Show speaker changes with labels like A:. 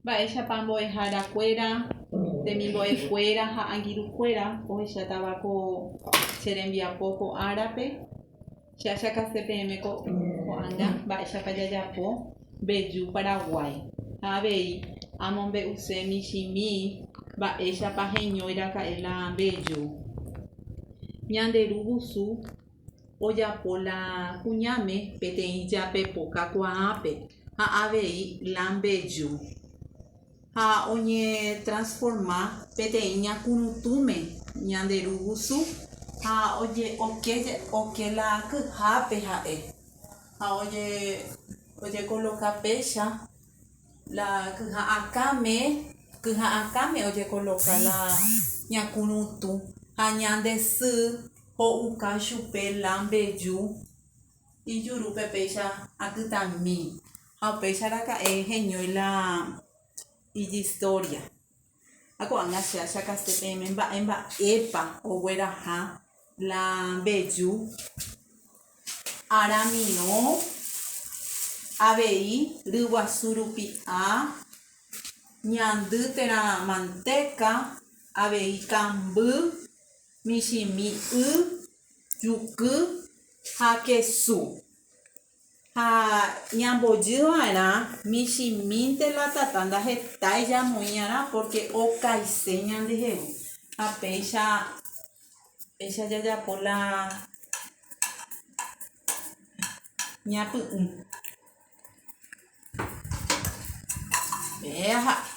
A: Mba'éichapa mbo'ehára kuéra, temimbo'e kuéra ha angirũ kuéra ohechátava ko che rembiapo ko árape? Che achakase peẽme ko ko'ág̃a mba'éichapa jajapo mbeju Paraguái ha avei amombe'use michĩmi mba'éichapa heñóiraka'e la mbeju Ñande Ru Vusu. ojapo la kuñáme peteĩ jape poka kuaápe ha avei la mbeju ha oñetransforma peteĩ ñakuruntúme ñande ru vusu ha oke la kyhápe ha'e ha ojekoloka péicha La kyha'akãme, kyha'akãme ojekoloka la ñakurũtũ, ha ñande sy ho'uka chupe la mbeju ijurúpe péicha akytãmi. Ha upéicha raka'e heñói la ijistória. Ha ko'ág̃a che achakase peẽme mba'e mba'épa ogueraha la mbeju aramirõ avei ryguasu rupi'a, ñandy térã mantéka, avei kamby, michĩmi y, juky ha kesu. Ha ñambojy va'erã michĩmínte la tata ndahetái jamoĩ'arã pórke okaise ñandehegui. Ha péicha péicha jajapo la ñapy'ũ. Pe aha'e.